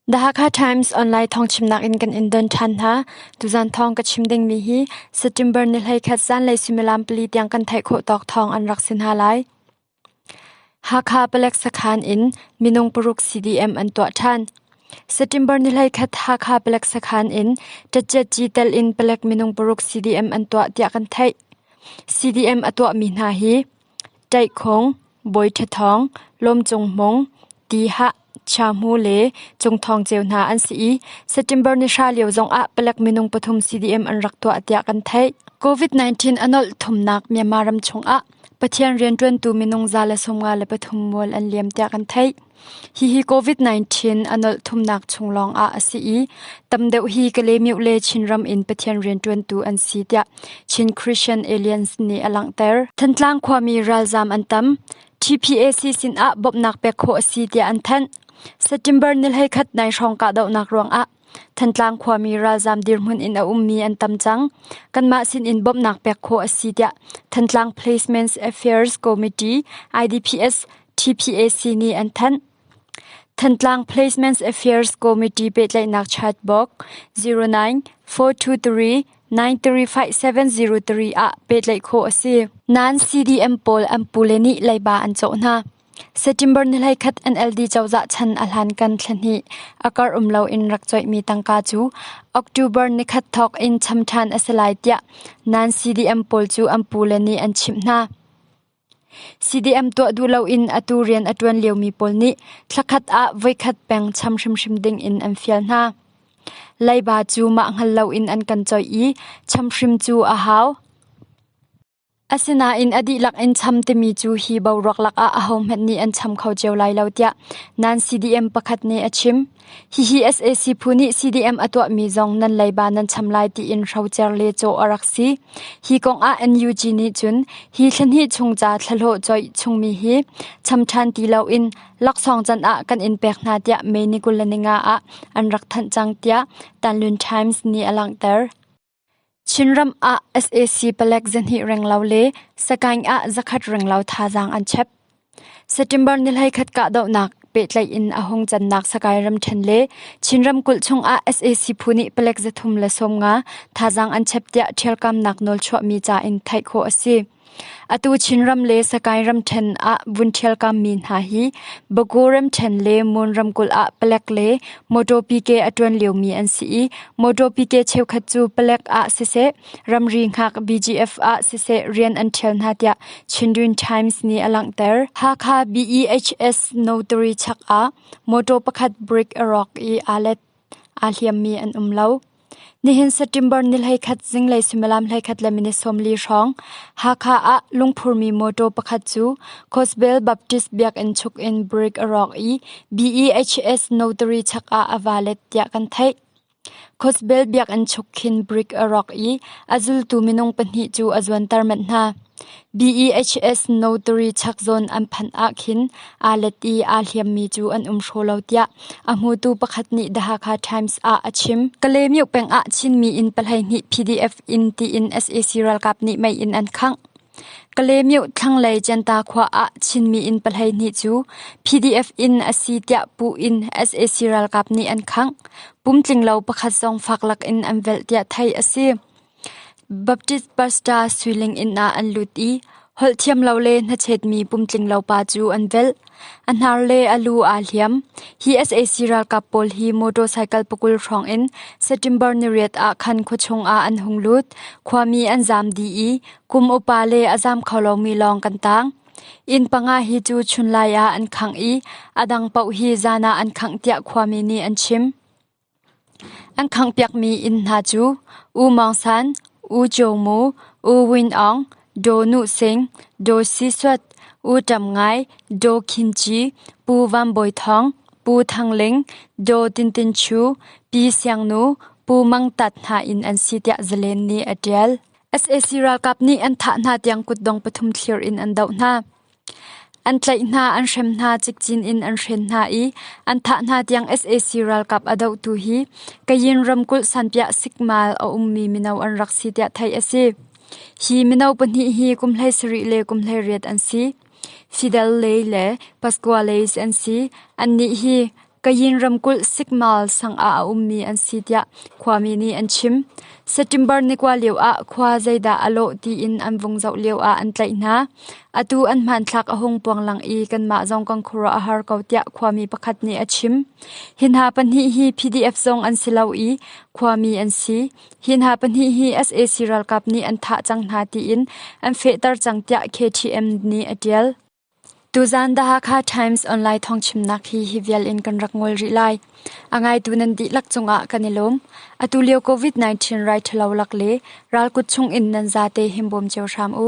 The Hakha Times online thawngchimnak in kan in don ṭhan hna. Tuzan thawng ka chim dingmi hi September ni hlei khat zanlei suimilam pali tiang kan theih khawh tawk thawng an rak si hna lai. Hakha Palek Sakhan in minung paruk CDM an tuah ṭhan. September ni hlei khat Hakha Palek Sakhan in ṭatchet chi tel in palek minung paruk CDM an tuah tiah kan theih. CDM a tuahmi hna hi Ṭaihkhong, Bawi Ṭha Thawng, Lawm Cung Hmung, Ti Hah, Chia Hmu le Cung Thawng Ceu hna an si i September ni hra lio zongah palek minung pathum CDM an rak tuah tiah kan theih. COVID-19 a nolh thumnak Myanmar ram chungah Pathian rianṭuantu minung za le sawmnga le pathum mual an liam tiah kan theih. Hihi Covid-19 a nolh thumnak chung lawngah a si i tam deuh hi Kalemyo le Chinram in Pathian rianṭuantu an si tiah Chin Christian Aliance nih a langhter. Thantlang khuami ralzaam an tam. TPAC sinah bawmhnak pek khawh a si tiah an thanh. September ni hlei khat nai hrawng kahdohnak ruangah Thantlang khuami ralzaam dirhmun in a ummi an tam cang. Kanmah sinin bawmhnak pek khawh a si tiah Thantlang Placements Affairs Committee IDPS TPAC nih an thanh. Thantlang Placements Affairs Committee pehtlaihnak chat book 09 423 935703 ah pehtlaih khawh a si. Nain CDM pawl an pule nih leiba an cawh hna. Setṭimbar ni hleikhat NLD cozah chan a hlankan thlahnih a kar um loin rak coihmi tangka cu October nikhat thawk in cham ṭhan a si lai tiah non-CDM pawl cu an pu le nih an chimh hna. CDM tuah duh loin atu rian a ṭuan liomi pawl nih thlakhat ah voikhat peng cham hrimhrim dingin an fial hna. Leiba cu mah hngal loin an kan coih i cham hrim cu a hau. Asinain a dihlak in cham timi cu hi boruak lakah ahohmanh nih an cham kho cio lai lo tiah nan-CDM pakhat nih a chim. Hihi sac phu nih CDM a tuahmi zong nan leiba nan cham lai tiin hrocer le cawh a rak si. Hi kongah NUG nih cun hi thlahnih chung ca thlahlawh coih chungmi hi cham ṭhan ti loin laksawng can ah kan in pek hna tiah May ni kul le ninga ah an rak thanh cang tiah Tanlun Times nih a langhter. Chinram ah sac palek zahnih renglo le Sagaing ah zakhat renglo thazaang an chep. September ni hleikhat kahdohnak pehtlaih in a hung cannak Sagaing ramṭhen le Chin ramkulh chungah sac phu nih palek zathum le sawm nga thazaang an chep tiah ṭhialkamnak nawl chuahmi ca in theih khawh a si. Atu Chinram le Sakae ramṭhen ah vun ṭhialkammi hna hi Bago ramṭhen le Mon ramkulh ah palek le mawṭaw pike a ṭuan liomi an si i mawṭaw pike cheukhat cu palek ah siseh ramri hngak BGF ah siseh rian an ṭhial hna tiah Chindwin Times nih a langhter. Hakha BEHS notary chak ah mawṭaw pakhat brick a rawk i aa let. aa hliammi an um lo. Nihin September ni hleikhat zinglei suimilam hleikhat le minute sawmli hrawng Hakha ah lungphurmi mawṭaw pakhat cu Gospel Baptist Biakinn chuk in brick a rawk i BEHS notary chak ah a va let tiah kan theih. Gospel Biakinn chuk khin brick a rawk i a zultu minung pahnih cu a zuanter manh hna. BEHS notary chakzawn an phanh ahkhin aa let i aa hliammi cu an um hraw lo tiah a hmutu pakhat nih The Hakha Times ah a chim. Kalaymyo peng ah Chinmi in pahleihnih PDF in tiin sac ralkap nih mei in an khangh. Kalaymyo thlanglei Centa khua ah Chinmi in pahleihnih cu PDF in a si tiah pu in sac ralkap nih an khangh. Pumtlinglo pakhat zong fak lak in an velh tiah theih a si. Baptist pastor suiling inn ah an lut i holh thiam lo le hnachetmi pumtlinglo pa cu an velh. A hnar le a lu aa hliam. Hi sac ralkap pawl hi motorcycle pakul hrawng in September niriat ah khan khua chung ah an hung lut. Khuami an zaam dih i kum upa le a zaam kho lomi lawng kan tang. Inn panga hi cu chunlai ah an khangh i a dang paoh hi zan ah an khangh tiah khuami nih an chim. An khanghpiakmi inn hna cu U Maung San, U Jaw Mu, U Win Aung, Daw Nu Sing, Daw Si Suat, U Ṭam Ngai, Daw Khin Ci, Pu Van Bawi Thawng, Pu Thang Ling, Daw Tin Tin Chu, Pi Siang Nu, Pu Mang Tat hna inn an si tiah zalen nih a ṭial. sac ralkap nih an thah hna tiang kutdong pathum thlir in an doh hna. An tlaih hna, an hrem hna, cikcin in an hren hna i an thah hna tiang sac ralkap a dohtu hi Kayin ramkulh Sanpiah Sikmal a ummi mino an rak si tiah theih a si. Hi mino pahnih hi kum hlei sarih le kum hlei riat an si. Fidel Ley le Pascuales an si. Annih hi Kayin ramkulh Sikmal sang ah a ummi an si tiah khuami nih an chim. September ni kua lio ah khua zeidah a lawh tiin an vung zoh lio ah an tlaih hna. Atu an hmanthlak a hung puanglang i kanmah zong kan khuaruah a har ko tiah khuami pakhat nih a chim. Hi hna pahnih hi PDF zong an si lo i khuami an si. Hi hna pahnih hi sac ralkap nih an thah cang hna tiin an fehter cang tiah KTM nih a ṭial. Tuzaan The Hakha Times online thawngchimnak hi hi vial in kan rak ngol rih lai. A ngaitu nan dihlak cungah kan i lawm. Atu lio COVID-19 rai ṭhalo lak le ral kut chung in nan zate himbawm cio hram u.